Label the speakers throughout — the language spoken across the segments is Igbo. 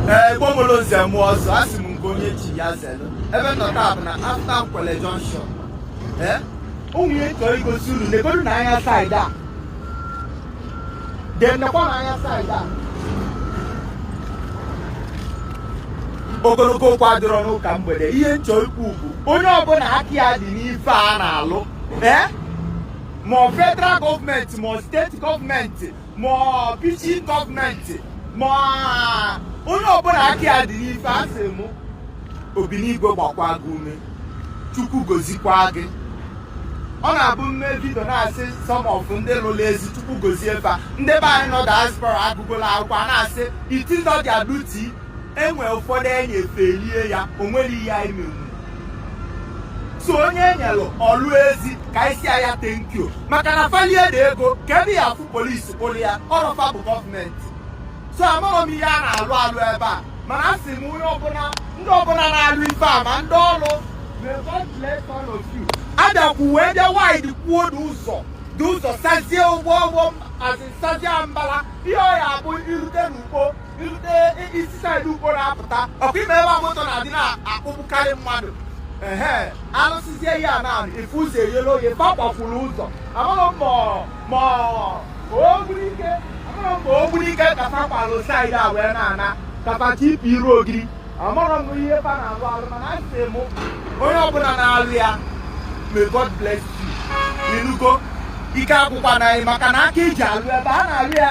Speaker 1: ee gbomolo nze na ọzọ a sị m nke onye chi ya zelu ebe m nọ taa bụ na after Nkwele junction ee o nwe ihe m chọrọ igosi unu negodu na anya saịdị a then nekwa na anya saịdị a ogologo okwu adịrọ n'ụka mgbede ihe m chọ ikwu bụ onye ọbụla aka ya dị n'ife a na-alụ ee ma ọ federal gọọmenti ma ọ steeti gọọmenti ma ọ which gọọmenti ma onye ọbụla aka ya dị n'ife asị m Obinigwe gbakwa gị ume Chukwu gozikwa gị ọ na-abụ m mee vidio na-asị some of ndị lụrụ ezi Chukwu gozie fa ndị be anyị nọ diaspora agụgola akwụkwọ a na-asị is it not their duty enwe ụfọdụ enye fa elie ya o nwere ihe anyị menwu so onye enyelu ọlụ ezi ka anyị si ya thank you maka na fa lie the ego kee ebe ị ya-afụ polisi kpụrụ ya ọrọ fa bụ gọọmenti so amarọ m ihe a na-alụ alụ ebe a mana a sị m onye ọbụla ndị ọbụla na-alụ ife a ma ndị ọlụ abịakwu wee bịa widekwuo the ụzọ the ụzọ sazie ugbu ugbu a zi sazie mbala ihe ọ ya-abụ irute n'Ukpo i si saịdị Ukpo na-apụta ọkwa ịma ebe a moto na-adị na-akpụgbukarị mmadụ ehe alụsịzie ihe a na ị fụ ụzọ eyelu oye fa kwafuru ụzọ amarọ m ma ma ogburu ike amarọ m ma ogburu ike ka fa kwalụ saịdị a wee na-ana ka fa chọ ịpụ iru Ogidi amarọ m ihe fa na-alụ alụ mana asị m onye ọbụla na-alụ ya may God bless you inugo ike agwụkwana gị maka na aka eji alụ ebe a na-alụ ya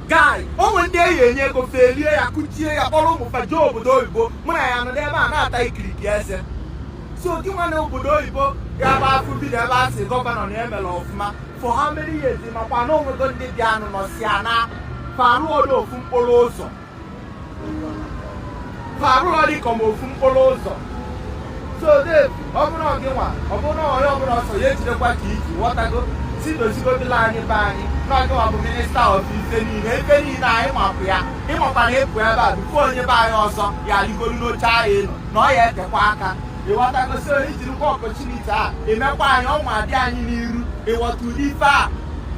Speaker 1: guy o nwe ndị a ya-enye ego fa elie ya kụchie ya kpọrọ ụmụ fa jee obodo oyibo mụ na ya anọdụ ebe a na-ata ikiriki eze so gị nwa nọ obodo oyibo ya bụ a fụ vidio ebe a sị gọvanọ na o mela ọfụma for how many years makwa na o nwego ndị bịanụ nọsịa naa fa arụrọdụ ofu mkpụrụ ụzọ fa arụrọ dị ka ma ofu mkpụrụ ụzọ so Dave ọ bụrụ gị nwa ọ bụrụ na onye ọbụla ọsọ ya jidekwa ka i ji ghọtago si dozigodilu anyị be anyị na gị nwa bụ minista of ife niile ife niile anyị mapụ ya ị makwa na ị pụ ebe a before onye be anyị ọzọ ya-aligolu n'oche ahụ elu na ọ ya-etekwa aka ịghọtago so ijirikwa opportunity a emekwa anyị ọnwa dị anyị n'iru ịghọta ụdị ife a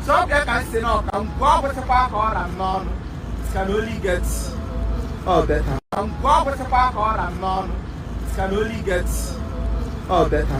Speaker 1: so ọ bụ ya ka m si na ọka mgbe ọ gwụsịkwa ka ọ ra m n'ọnụ can only get all better. Mgbe ọ gwụsịkwa ka ọ ra m n'ọnụ it can only get all better.